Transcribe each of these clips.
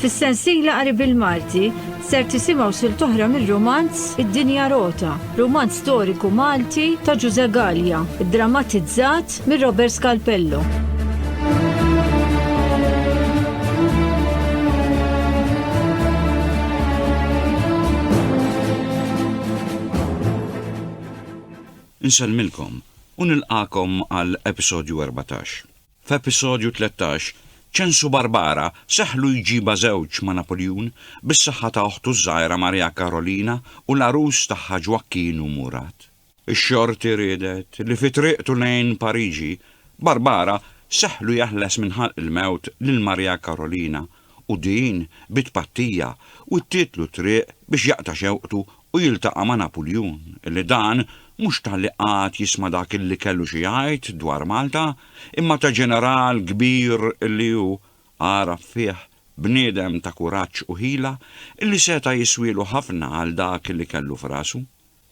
Fis-sensiela qari bil-Malti ser tisimgħu sil toħra mir-romanz Id-Dinja Rota, romanz storiku Malti ta' Ġuże Gallia, drammatizzat mir Robert Scalpello. Nsellmilkom u nilqagħkom għal episodju erbatax. F'episodju tlettax, Ċensu Barbara seħħlu jġibha żewġ ma' Napuljun bis-saħħa ta' oħtu ż-żgħira Marija Karolina u l-għarus tagħha Ġwakkin u Murat. Ix-xorti riedet li fi triqtu lejn Pariġi, Barbara seħħlu jeħles minn ħalq il-mewt lil Marija Karolina u din bi tpattija wittietlu t-triq biex jaqta' xewqtu u jiltaqa' ma' Napuljun li dan mhux talli qagħad jisma' dak illi kellu xi jgħid dwar Malta imma ta' ġeneral kbir illi hu għaraf fih bniedem ta' kuraġġ u ħila illi seta' jiswielu ħafna għal dak illi kellu f'rasu.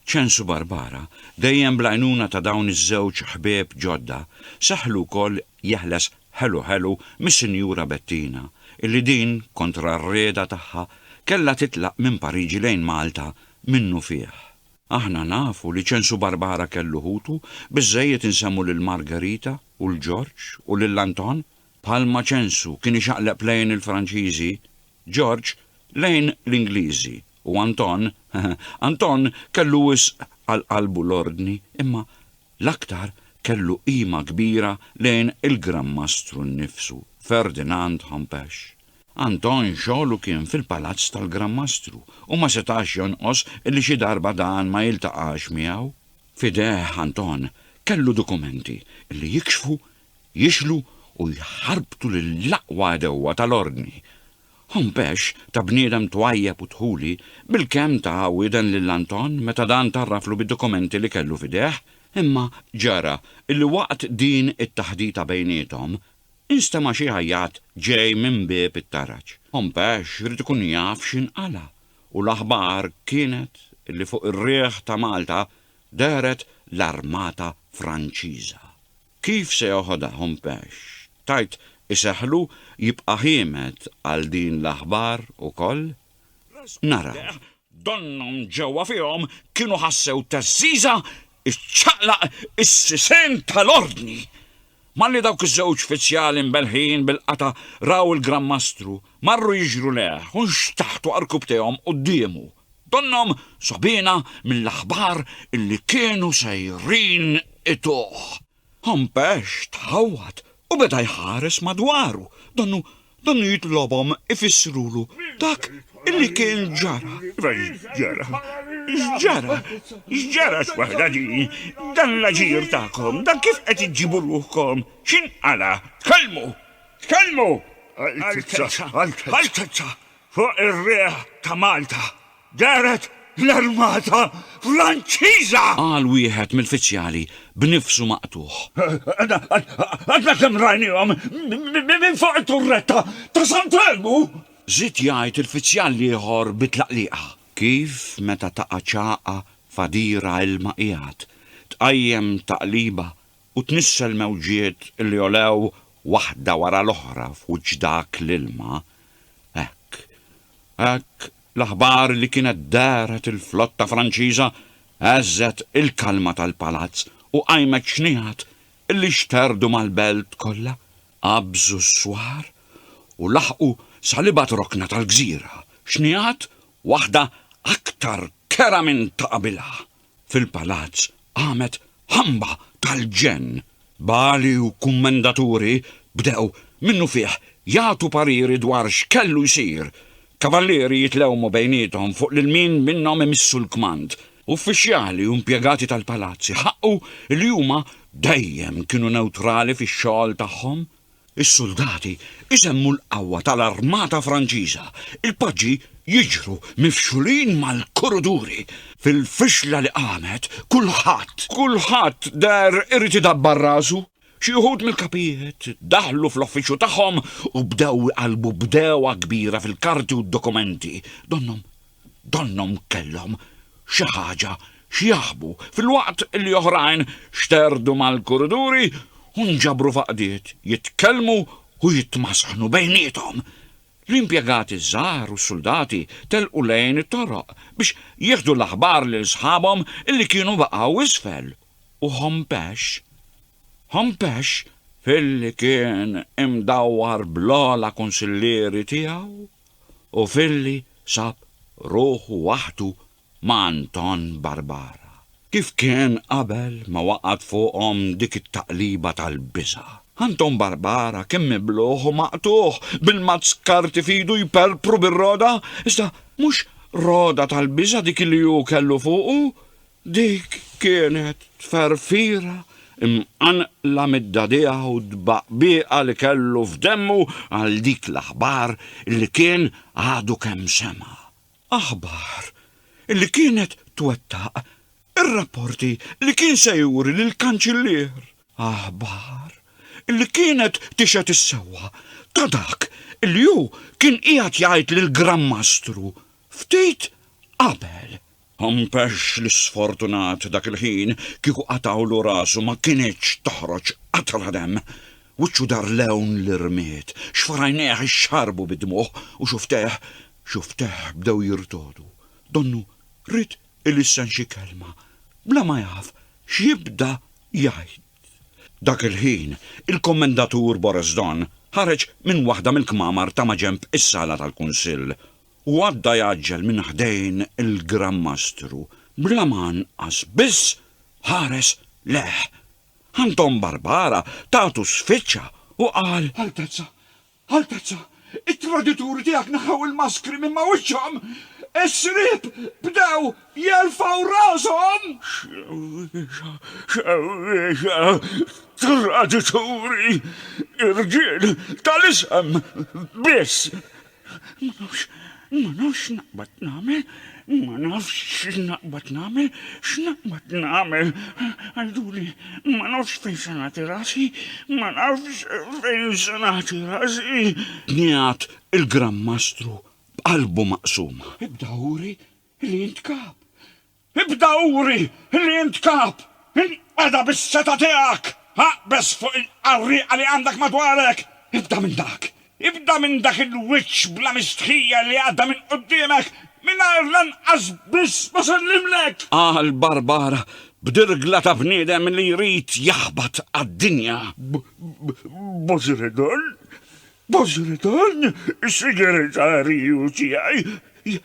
Ċensu Barbara, dejjem bl-għajnuna ta' dawn iż-żewġ ħbieb ġodda, seħħlu wkoll jeħles Ħelu Ħelu mis-Sinjura Bettina, illi din, kontra r-rieda tagħha, kellha titlaq minn Pariġi lejn Malta minnufih. Aħna nafu li Ċensu Barbara kellu ħutu, biżżejjed insemmu lil Margherita u 'l Ġorġ u lil Anton? Bħalma ċensu kien ixaqleb lejn il-Franċiżi, Ġorġ lejn l-Ingliżi u Anton, Anton kellu wisq għal qalbu l-ordni imma l-aktar kellu qima kbira lejn il-Gran Mastru nnifsu, Ferdinand Hompesch. Anton xogħlu kien fil-palazz tal-Gran Mastru u ma setax jonqos li xi darba dan ma jiltaqax miegħu. F'idejh Anton kellu dokumenti li jikxfu jixlu u jħarbtu lill-aqwa għadewwa tal-ordni, Hompex ta' bniedem twajjeb u dħuli bil-kemm ta' wieden lil Anton meta dan tgħarraflu bid-dokumenti li kellu f'idejh, imma ġara li waqt din it-taħdita bejniethom, instema' xi għajjat ġej minn bieb it-taraġ. Hompex ried ikun jaf x'inqala' u l-aħbar kienet li fuq ir-riħ ta' Malta dehret l-armata Franċiża. Kif se joħodha Hompesch? Tgħid iseħħlu jibqa' ħiemed għal din l-aħbar ukoll? Naraw. Donnhom ġewwa fihom kienu ħassew teżżiża ċċaqlaq is-sisien tal-Ordni! Malli dawk iż-żewġ fizzjali mbelħin bil-qata' raw il-Gran Mastru, marru jiġru lejh u nxtaħtu għar-rkub tiegħhom quddiemu. Donnhom sogħbina mill-aħbar illi kienu sejrin ituh. Hompex tħawwad u beda jħares madwaru, donnu donnu jitlobhom ifissrulu dak illi kien ġara. Iva x'ġara? X'ġara? X'ġara x'waħda di? Dan l-aġir tagħkom, dan kif qed iġġibu ruħkom? X'inqala'? Tkellmu! Tkellmu! Altezza! Altezza! Fuq ir-riħ ta' Malta dehret l-armata Franċiża! Qal wieħed mill-fiċjali b'nifsu maqtugħ. Għadna kemm rajniehom minn fuq it-turretta ta' Sant'Elmu! Żied jgħid il-fiċjal l-ieħor bi tlaqliqa. Kif meta taqa' ċagħqa f'għadira ilma qiegħed tqajjem taqliba u tnissel mewġiet li għolew waħda wara l-oħra f'wiċċ dak l-ilma, hekk, hekk l-aħbar li kienet dehret il-flotta Franċiża heżżet il-kalma tal-palazz u qajmet xniegħat li xterdu mal-belt kollha, qabżu s-swar u laħqu sa l-ibgħad rokna tal-gżira, xniegħat waħda aktar kera minn ta' qabilha. Fil-palazz qamet ħamba tal-ġenn. Bagħli u kummendaturi bdew minnufih jagħtu pariri dwar x'kellu jsir. Kavallieri jitlewmu bejniethom fuq lil min minnhom imissu l-kmand. Uffiċjali u impjegati tal-palazz iħaqqu li huma dejjem kienu newtrali fix-xogħol tagħhom. Is-suldati jsemmu l-qawwa tal-armata Franċiża, il-paġi jiġru mifxulin mal-kuruduri. Fil-fixla li qamet, kulħadd, kulħadd deher irid idabbar rasu. Xi wħud mill-kapijiet daħlu fl-uffiċċju tagħhom u bdew iqallbu b'degħwa kbira fil-karti u d-dokumenti. Donnhom donnhom kellhom xi ħaġa x'jaħbu filwaqt li oħrajn xterdu mal-kuriduri u nġabru f'għaqdiet jitkellmu u jitmasħnu bejniethom. L-impjegati ż-żgħar u s-suldati telqu lejn it-toroq biex jieħdu l-aħbar lil sħabhom li kienu baqgħu isfel u Hompesch Hompesch filli kien imdawwar bl-ogħla kunsillieri tiegħu u filli sab ruħu waħdu ma' Anton Barbara. Kif kien qabel ma waqgħet fuqhom dik it-taqliba tal-biża'. Anton Barbara kien mibluħ u maqtugħ, bil-mazz karti f'idu jperpru bir-roda, iżda mhux roda tal-biża' dik li hu kellu fuqu, Dik kienet tferfira mqanqla mid-dagħdigħa u d-tbaqbieqa li kellu f'demmu għal dik l-aħbar li kien għadu kemm sema'. Aħbar li kienet twettaq ir-rapporti li kien se juri lill-Kanċillier. Aħbar li kienet tixhed is-sewwa ta' dak li hu kien qiegħed jgħid lill-Gran Mastru ftit qabel. Ħampex l-isfortunat dak il-ħin kieku qatgħulu rasu ma kinitx toħroġ qatra demm. Wiċċu dar lewn l-irmied, xfarajnejh ixxarbu bid-dmugħ u xuftejh, xuftejh bdew jirtogħdu. Donnu ried ilissen xi kelma, bla ma jaf x'jibda jgħid. Dak il-ħin, il-Kommendatur Boris Don ħareġ minn waħda mill-kmamar ta' maġenb is-sala tal-Kunsill u għadda jgħaġġel minn ħdejn il-Gran Mastru bla ma anqas biss ħares lejh. Anton Barbara tatu sfiċċa u qal. Altezza, Altezza, it-tradituri tiegħek neħħew il-maskri minn ma' wiċċhom! Is-sriep bdew jerfgħu rashom! Xewwiexa, xewwiexa, tradituri, irġiel tal-isem biss! Ma nafx, ma nafx x'naqbad nagħmel, ma nafx x'naqbad nagħmel, x'naqbad nagħmel. Għiduli, ma nafx fejn se nagħti rasi, ma nafx fejn se nagħti rasi. Niegħat il-Gran Mastru b'qalbu maqsuma. Ibda uri li int kap, Ibda uri li int kap! Inqeda bis-setgħa tiegħek! Aqbeż fuq il-qarrieqa li għandek madwarek! Ibda minn dak! Ibda minn dak il-wiċċ bla mistħija li għadda minn quddiemek mingħajr lanqas biss ma sellimlek! Qal Barbara b'dirgla ta' bniedem li jrid jaħbat għad-dinja. B'għożi redel, B'għażla dan, is-sigretarju tiegħi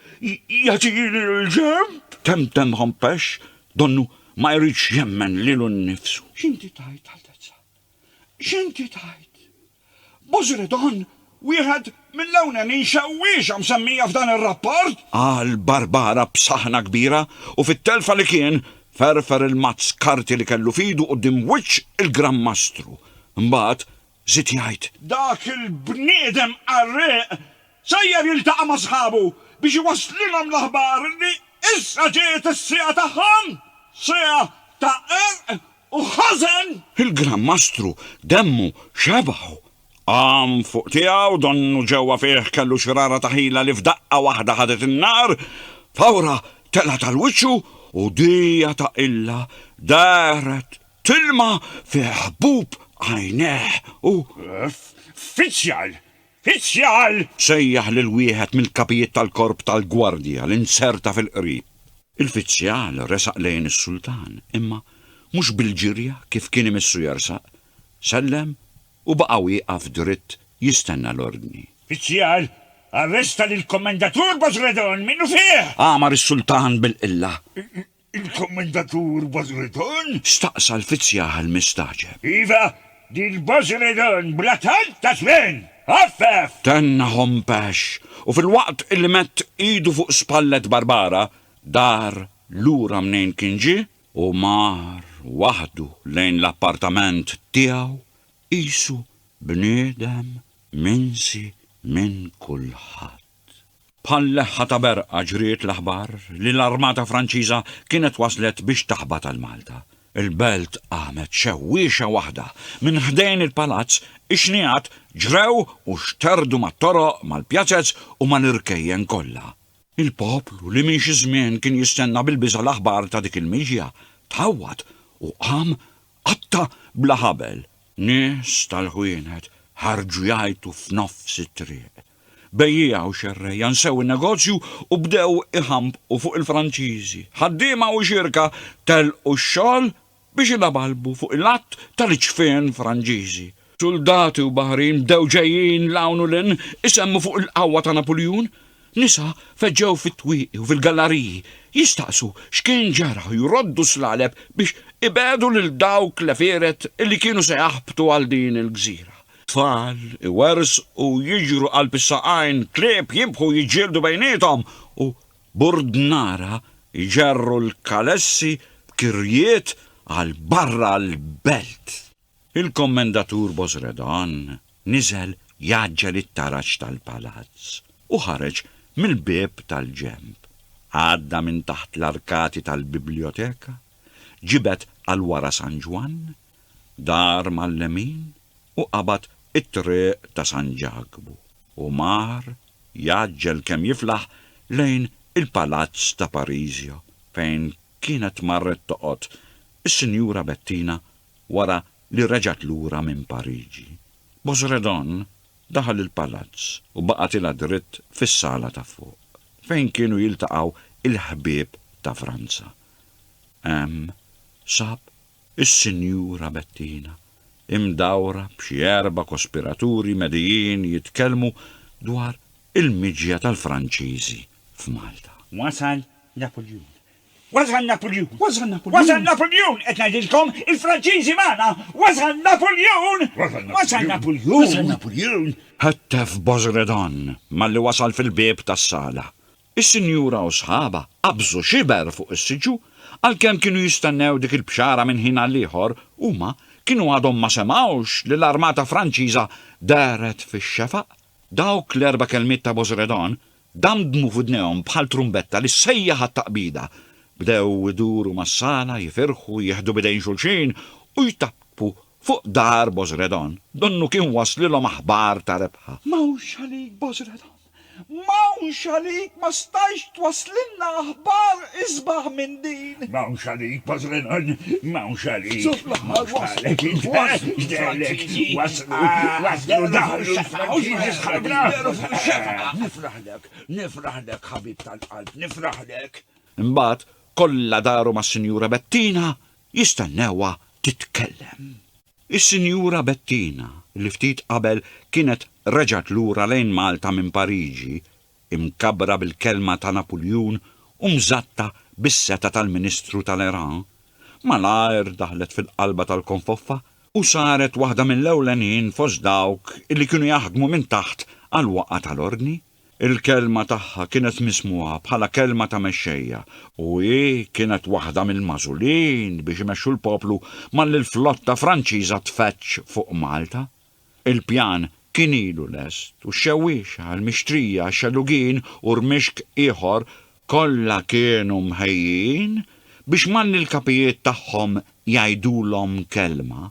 jagħtini l-ġenb. Temtem ħompex, donnu ma jridx jemmen lilu nnifsu. X'inti tgħid, Altezza? X'inti tgħid? B'għażla dan, wieħed mill-ewlenin xewwiexa msemmija f'dan ir-rapport? Qal Barbara b'saħħna kbira u fit-telfa li kien, ferfer il-mazz karti li kellu f'idu quddiem wiċċ il-Gran Mastru. Imbagħad, Żied jgħid. Dak il-bniedem qarrieq sejjer jiltaqa' ma' sħabu biex iwasslilhom l-aħbar li issa ġiet is-siegħa tagħhom, siegħa ta' qerq u ħażen! Il-Gran Mastru demmu xebgħu. Qam fuq tiegħu, donnu ġewwa fih kellu xrara ta' ħila li f'daqqa waħda ħadet in-nar, fawra telgħet għal wiċċu u dija ta' qilla dehret Tilma fi ħbub għajnejh u. Ffiċjal! Ffiċjal! Sejjaħ lil wieħed mill-kapijiet tal-korp tal-gwardja li nserta fil-qrib. Il-fiċjal resaq lejn is-sultan, imma mhux bil-ġirja kif kien imissu jersaq, sellem u baqa' wieqaf dritt jistenna l-ordni. Fiċjal, arresta lill-Kommendatur Bozredon minnufih! Għamar is-sultan bil-qilla. Il-Kummentatur Bazredon? staqsa l-fizzjaħ mistagħġeb. Iva, dil Bazredon bla talb ta' żmien! Għaffef! Tenna Hompesch u filwaqt li mett idu fuq spallet Barbara, dar lura mnejn kien ġie u mar waħdu lejn l-appartament tiegħu qisu bniedem minsi minn kulħadd. Bħal leħħa ta' berqa ġriet l-aħbar li l-armata Franċiża kienet waslet biex taħbat għal Malta. Il-belt qamet xewwiexa waħda. Minn ħdejn il-palazz, ix-xnigħat ġrew u xterdu mat-toroq, mal-pjazez u mal-irkejjen kollha. Il-poplu li minn xi żmien kien jistenna bil-biża' l-aħbar ta' dik il-miġja, tħawwad u qam qatta' bla ħabel. Nies tal-ħwienet ħarġu jgħajtu f'nofs it-triq. Bejjiegħa u xerrejja nsew in-negozju u bdew iħambqu fuq il-Franċiżi. Ħaddiema u xierka telqu x-xogħol biex ilabalbu fuq il-għadd tal-iċfien Franġiżi. Suldati u baħrin bdew ġejjin 'l hawn u 'l hinn isemmu fuq il-qawwa ta' Napuljun. Nisa feġġew fit-twieqi u fil-gallariji jistaqsu x'kien ġara u jroddu s-slaleb biex ibegħdu lil dawk l-għefieret li kienu se jaħbtu għal din il-gżira. Tfal iwerżqu, jiġru qalb is-saqajn, klieb jibħu jiġġieldu bejniethom u burdnara jġerru l-kalessi b'kirjiet għal barra l-belt. Il-Kommendatur Bosredon niżel jgħaġġel it-taraġ tal-palazz u ħareġ mill-bieb tal-ġenb. Għadda minn taħt l-arkati tal-bibljoteka, ġibed għal wara San Ġwann Dar mal-lemin u qabad it-triq ta' San Ġakbu u mar jgħaġġel kemm jiflaħ lejn il-palazz ta' Parisio fejn kienet marret toqgħod is-Sinjura Bettina wara li reġgħet lura minn Pariġi. Bosredon daħal il-palazz u baqa' tilgħa dritt fis-sala ta' fuq fejn kienu jiltaqgħu il-ħbieb ta' Franza. Hemm sab Is-Sinjura Bettina, imdawra b'xi erba' kospiraturi medijin jitkellmu dwar il-miġja tal-Franċiżi f'Malta. Wasal Napuljun! Wasal Napuljun! Wasal Napuljun! Wasal Napuljun! Qed ngħidilkom, il-Franċiżi magħna! Wasal Napuljun! Wasal Napuljun! Wasal Napuljun! Ħettef Bozredon malli wasal fil-bieb tas-sala. Is-sinjura u sħabha qabżu xiber fuq is-siġġu, għalkemm kienu jistennew dik il-bxara minn ħin għal ieħor, huma kienu għadhom ma semgħux li l-armata Franċiża dehret fix-xefaq. Dawk l-erba' kelmiet ta' Bozredon damdmu f'widnejhom bħal trumbetta li ssejjaħ għat-taqbida. Bdew iduru mas-sala, jifirħu, jieħdu b'idejn xulxin u jtappu fuq dar Bozredon, donnu kien waslilhom aħbar ta' rebħa. M'hawnx għalik, Bozredon! M'hawnx għalik ma stajtx twasslilna aħbar isbaħ minn din. M'hawnx għalik Pażlenon m'hawnx għalik. F'suf l-aħħar waslu l-Franċiżi waslu waslu daħlu l-Franċiżi sħabna. Nifraħlek nifraħlek ħabib tal-qalb nifraħlek. Imbagħad kollha daru mas-Sinjura Bettina jistennewha titkellem. Is-Sinjura Bettina, li ftit qabel kienet reġgħet lura lejn Malta minn Pariġi, imkabbra bil-kelma ta' Napuljun u mżatta bis-setgħa tal-Ministru tal-Iran, malajr daħlet fil-qalba tal-konfoffa u saret waħda mill-ewlenin fost dawk li kienu jaħdmu minn taħt għall-waqgħa tal-ordni. Il-kelma tagħha kienet mismugħa bħala kelma ta' mexxejja, u hi kienet waħda mill-magħżulin biex imexxu l-poplu malli l-flotta Franċiża tfeġġ fuq Malta. Il-pjan kien ilu lest u x-xewwiexa, il-mixtrija, xelugin u rmixk ieħor kollha kienu mħejjin biex malli l-kapijiet tagħhom jgħidulhom kelma,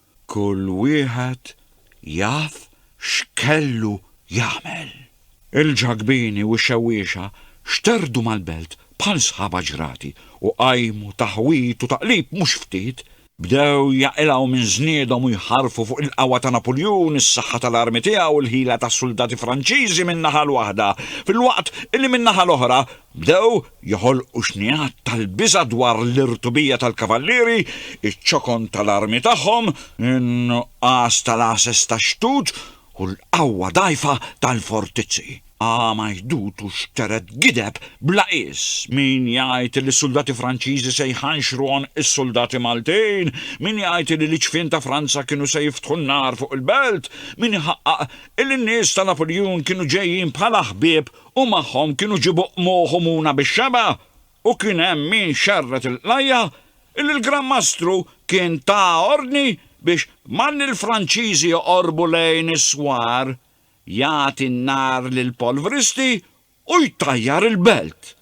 Kull wieħed jaf x'kellu jagħmel. Il-ġagbini u x-xewwiexa xterdu mal-belt bħal sħaba ġrati u qajmu taħwid u taqlib mhux ftit. Bdew jaqilgħu minn żniedhom u jħarrfu fuq il-qawwa ta' Napuljun, is-saħħa tal-armi tiegħu, il-ħila tas-suldati Franċiżi min-naħa l-waħda, filwaqt illi min-naħa l-oħra Bdew joħolqu xnigħat tal-biża' dwar l-irtubija tal-kavallieri, iċ-ċokon tal-armi tagħhom, in-nuqqas tal-għases tax-xtut u l-qawwa dgħajfa tal-fortizzi. Qama jdut u xtered gideb bla qies, min jgħid li s-suldati Franċiżi se jħanxru għonq is-suldati Maltin, min jgħid li l-iċfien ta' Franza kienu se jiftħu n-nar fuq il-belt, min iħaqqaq li n-nies ta' Napuljun kienu ġejjin bħala ħbieb u magħhom kienu ġiebu qmuħ u muna bix-xebgħa, u kien hemm min xerred il-qlajja, illi l-Gran Mastru kien ta ordni biex malli l-Franċiżi joqorbu lejn is-swar, jagħti n-nar lill-polvristi u jtajjar il-belt.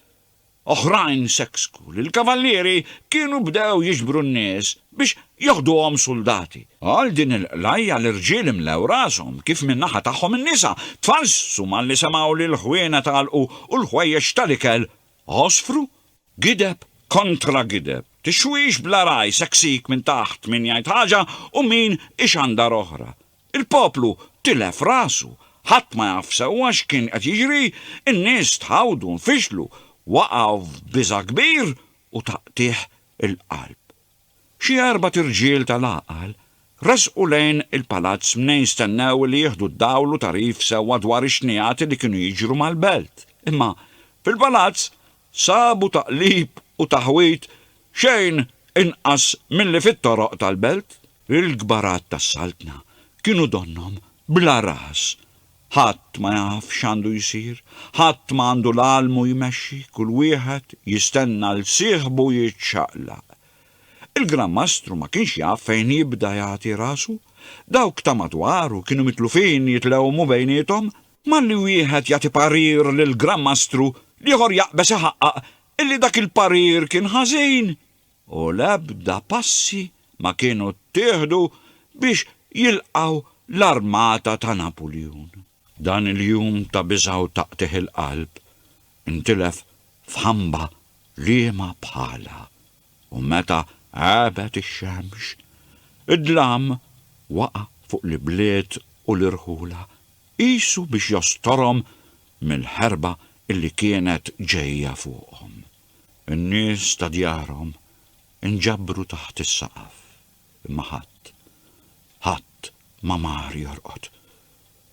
Oħrajn seksku li l-kavallieri kienu bdew jiġbru n-nies biex joħduhom suldati. Għal din il-qlajja l-irġiel imlew rashom kif min-naħa tagħhom in-nisa tfallsu malli semgħu li l-ħwienet għalqu u l-ħwejjeġ tal-ikel għosfru. Gideb kontra gideb, tixwix bla ragħaj seksik minn taħt min jgħid ħaġa u min ixandar oħra. Il-poplu tilef rasu, ħadd ma jaf sewwa x'kien qed jiġri, in-nies tħawdu, nfixlu, waqgħu f'biża' kbir u taqtigħ il-qalb. Xi erbat irġiel tal-għaqal resqu lejn il-palazz mnejn jistennew li jieħdu d-dawl u tagħrif sewwa dwar ix-xnigħati li kienu jiġru mal-belt. Imma fil-palazz sabu taqlib u taħwid xejn inqas milli fit-toroq tal-belt. Il-kbarat tas-Saltna kienu donnhom bla ras. Ħadd ma jaf x'għandu jsir, ħadd ma għandu l-għalmu jmexxi, kull wieħed jistenna 'l sieħbu jiċċaqlaq. Il-Gran Mastru ma kienx jaf fejn jibda jagħti rasu. Dawk ta' madwaru kienu mitlufin jitlewmu bejniethom Malli wieħed jagħti parir lill-Gran Mastru, l-ieħor jaqbeż iħaqqaq illi dak il-parir kien ħażin u l-ebda passi ma kienu ttieħdu biex jilqgħu l-armata ta' Napuljun. Dan il-jum ta' biża' u ta' qtigħ il-qalb intilef f'ħamba liema bħalha. u meta għabet ix-xemx, id-dlam waqa' fuq l-ibliet u l-irħula, qisu biex jostorhom mill-ħerba li kienet ġejja fuqhom. In-nies ta' djarhom inġabru taħt is-saqaf, imma ħadd, ħadd ma mar jorqod.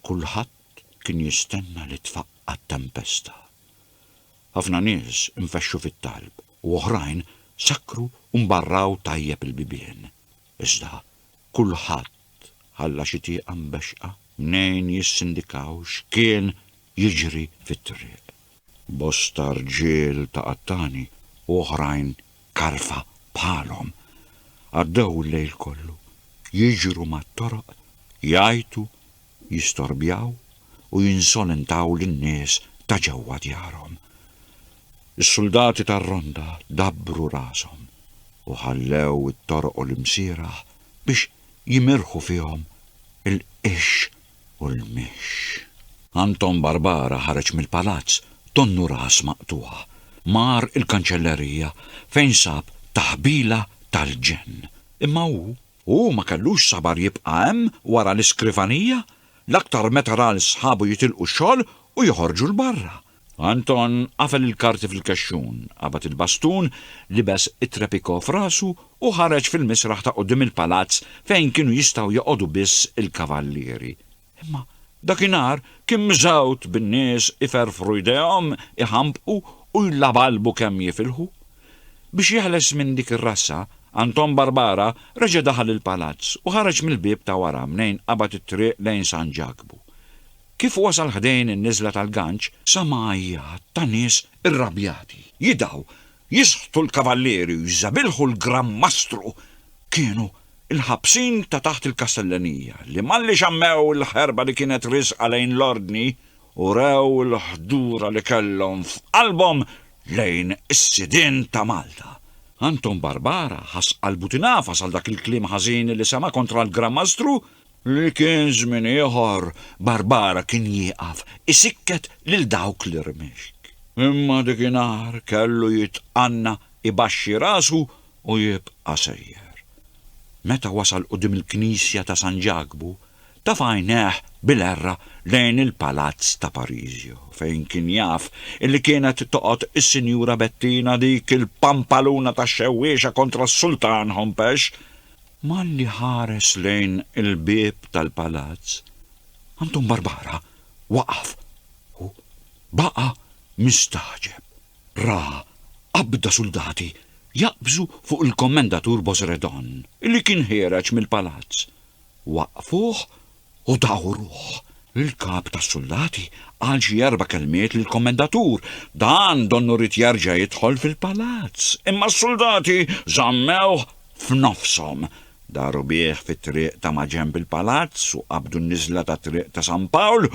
Kulħadd kien jistenna li tfaqqa' t-tempesta. Ħafna nies infexxu fit-talb. u oħrajn sakkru u mbarraw tajjeb il-bibien, iżda kulħadd ħalla xi tieqa mbexxqa mnejn jissindikaw x'kien jiġri fit-triq. Bosta rġiel ta' qattani u oħrajn karfa bħalhom għaddew il-lejl kollu jiġru mat-toroq jgħajtu jistorbjaw u jinsolentaw lin-nies ta' ġewwa djarhom. Is-suldati tar-ronda dabbru rashom u ħallew it-toroq u l-imsierah biex jimirħu fihom il-qix u l-mixx. Anton Barbara ħareġ mill-palazz donnu ras maqtugħ, mar il-kanċellerija fejn sab taħbila tal-ġenn, imma hu U hu ma kellux sabar jibqa' hemm wara l-iskrivanija, l-aktar meta ra 'l sħabu jitilqu x-xogħol u joħorġu 'l barra. Anton qafel il-karti fil-kexxun, qabad il-bastun, libes it-trepiko f'rasu u ħareġ fil-misraħ ta' quddiem il-palazz fejn kienu jistgħu joqogħdu biss il-kavallieri. Imma dakinhar kien miżgħud bin-nies iferrfru jdejhom, iħampqu u jlabalbu kemm jifilħu. Biex jeħles minn dik ir-rassa, Anton Barbara reġa' daħal il-palazz u ħareġ mill-bieb ta' wara mnejn qabad it-triq lejn San Ġakbu. Kif wasal ħdejn in-niżla tal-Ganġ, sama għajjat ta' nies irrabjati, jidgħu Jisħtu l-kavallieri u jżabilħu l-Gran Mastru kienu l-ħabsin ta' taħt il-Kastellanija li malli xammew il-ħerba li kienet riżqa lejn l-Ordni, urew il-ħdura li kellhom f'qalbhom lejn is-sidien ta' Malta. Anton Barbara ħass qalbu tingħafas għal dak il-kliem ħażin li sema' kontra l-Gran Mastru li kien żmien ieħor Barbara kien jieqaf isikket lil dawk l-irmixk. Imma dikinhar kellu jitqanna ibaxxi rasu u jibqa' sejjer. Meta wasal quddiem il-knisja ta' San Ġakbu, taf' għajnejh bil-għerra lejn il-palazz ta' Parisio fejn kien jaf illi kienet toqgħod is-Sinjura Bettina dik il-pampaluna tax-xewwiexa kontra s-Sultan Hompesch Malli ħares lejn il-bieb tal-palazz, Anton Barbara waqaf u baqa' mistagħġeb. Ra qabda suldati jaqbżu fuq il-Kommendatur Bosredon li kien ħiereġ mill-palazz. Waqqfuh U dawruh. Il-kap tas-suldati qal xi erba' kelmiet lill-kommendatur. Dan donnu ried jerġa' jidħol fil-palazz, imma s-suldati żammewh f'nofshom. Daru bih fit-triq ta' maġenb il-palazz u qabdu n-niżla tat-Triq ta' San Pawl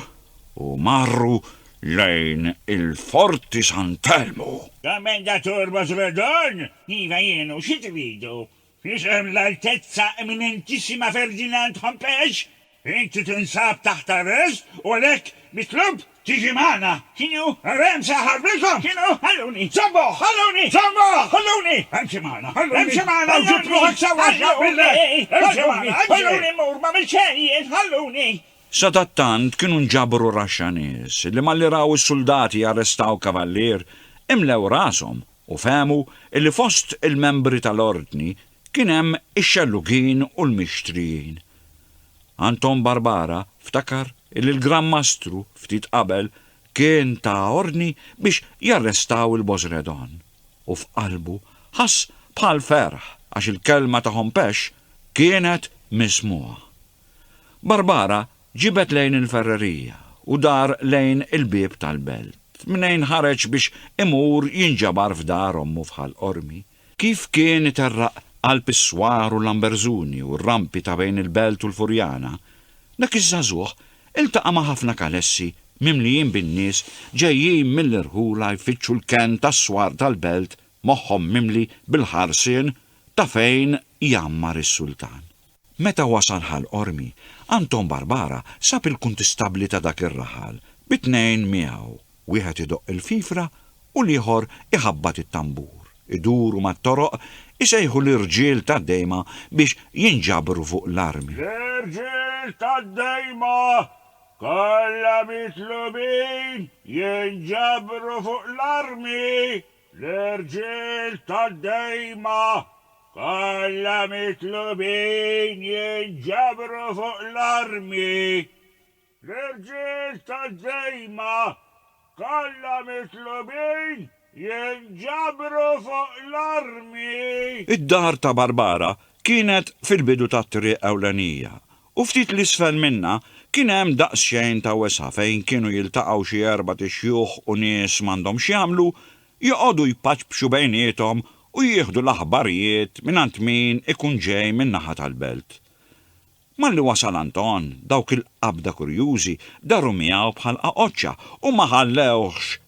u marru lejn il-Forti Sant'Elmu. Kommendatur Bosredon, Iva jien u xi tridu? F'isem l-Altezza Eminentissima Ferdinand Hompesch, inti tinsab taħt arrest u għalhekk mitlub tiġi magħna. Kienu għarem se ħarrikom! Kienu ħalluni! Żommuh! Ħalluni! Żommuh! Ħalluni! Emxi magħna! Ħalluni! Emxi magħna u ġib ruħek sewwa x'naqbillek! Emxi magħna! Emxi! Ħalluni mmur, m'għamilt xejn jien! Ħalluni! Sadattant kienu nġabru raxxa nies li malli raw is-suldati jarrestaw Kavallier, imlew rashom u fehmu illi fost il-membri tal-Ordni kien hemm ix-xellugin u l-mixtrijin. Anton Barbara ftakar illi l-Gran Mastru ftit qabel kien ta ordni biex jarrestaw il-Bozredon u f'qalbu ħass bħal ferħ għax il-kelma ta' Hompesch kienet mismugħa. Barbara ġibet lejn il-ferrerija u dar lejn il-bieb tal-belt, mnejn ħareġ biex imur jinġabar f'dar ommu f'Ħal Qormi. Kif kien iterraq qalb is-swar u l-Lamberżuni u r-rampi ta' bejn il-belt u l-Furjana, dak iż-żagħżugħ iltaqa' ma' ħafna kalessi mimlijin bin-nies ġejjin mill-irħula jfittxu l-kenn tas-swar tal-belt moħħhom mimli bil-ħarsien ta' fejn jgħammar is-sultan. Meta wasal Ħal Qormi, Anton Barbara sab il-kuntistabbli ta' dak ir-raħal bi tnejn miegħu, wieħed idoqq il-fifra u l-ieħor iħabbat it-tambur, iduru mat-toroq isejħu lir-rġiel tad-dejma biex jinġabru fuq l-armi. L-irġiel tad-dejma kollha mitlubin jinġabru fuq l-armi L-irġiel tad-dejma kollha mitlubin jinġabru fuq l-armi. L-irġiel tad-dejma kollha mitlubin jinġabru fuq l-armi. Id-dar ta' Barbara kienet fil-bidu tat-triq ewlenija u ftit 'l isfel minnha kien hemm daqsxejn ta' wesgħa fejn kienu jiltaqgħu xi erbat ixjuħ u nies m'għandhom x'jagħmlu, joqogħdu jpaċpxu bejniethom u jieħdu l-aħbarijiet mingħand min ikun ġej min-naħa tal-belt. Malli wasal Anton, dawk il-qabda kurjużi daru miegħu bħal qaqoċċa u ma ħallewhx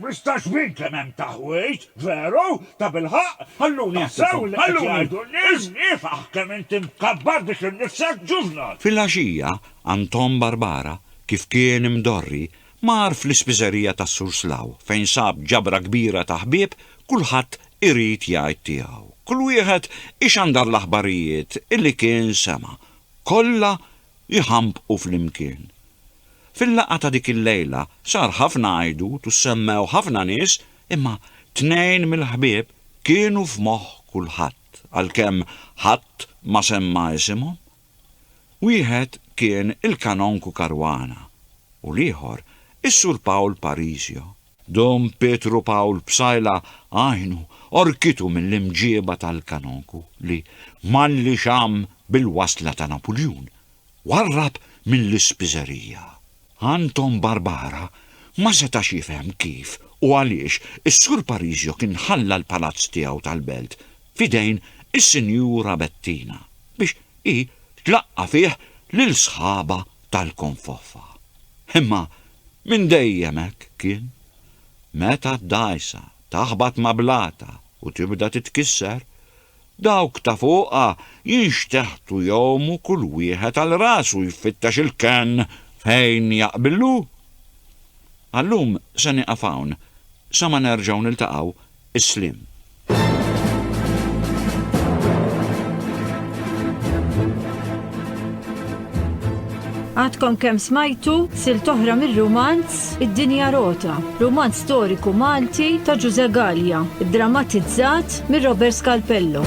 Mhux ta' xbin kemm hemm taħwid, veru? Tabilħaqq, ħalluni nsew li qed jgħidu n-nies, ifaħ kemm inti mkabbar bik innifsek ġuvnal! Filgħaxija, Anton Barbara, kif kien imdorri, mar fl-ispiżerija tas-Sur Slaw, fejn sab ġabra kbira ta' ħbieb, kulħadd irid jgħid tiegħu. Kull wieħed ixandar l-aħbarijiet li kien sema'. Kollha jħambqu flimkien. Fil-laqgħa ta' dik il-lejla sar ħafna għajdut u ssemmew ħafna nies imma tnejn mill-ħbieb kienu f'moħħ kulħadd għalkemm ħadd ma semma isimhom. Wieħed kien il-Kanonku Caruana u l-ieħor is-Sur Paul Parisio. Dom Pietru Pawl Psaila għajnu orkitu mill-imġieba tal-kanonku li, malli xamm bil-wasla ta' Napuljun, warrab mill-ispiżerija. Anton Barbara ma setax jifhem kif u għaliex is-Sur Parisio kien ħalla l-palazz tiegħu tal-Belt f'idejn is-Sinjura Bettina biex hi tlaqqa' fih lil sħabha tal-konfoffa. Imma minn dejjem hekk kien. Meta d-dgħajsa taħbat ma' blata u tibda titkisser, dawk ta' fuqha jinxteħtu jgħumu kull wieħed għal rasu jfittex il-kenn fejn jaqbillu. Għal-lum se nieqaf hawn, sa ma nerġgħu niltaqgħu, Is-sliem. Għadkom kemm smajtu sil toħra mir-rumanz Id-Dinja Rota, rumanz storiku Malti ta' Ġuże Gallia, drammatizzat mir Robert Scalpello.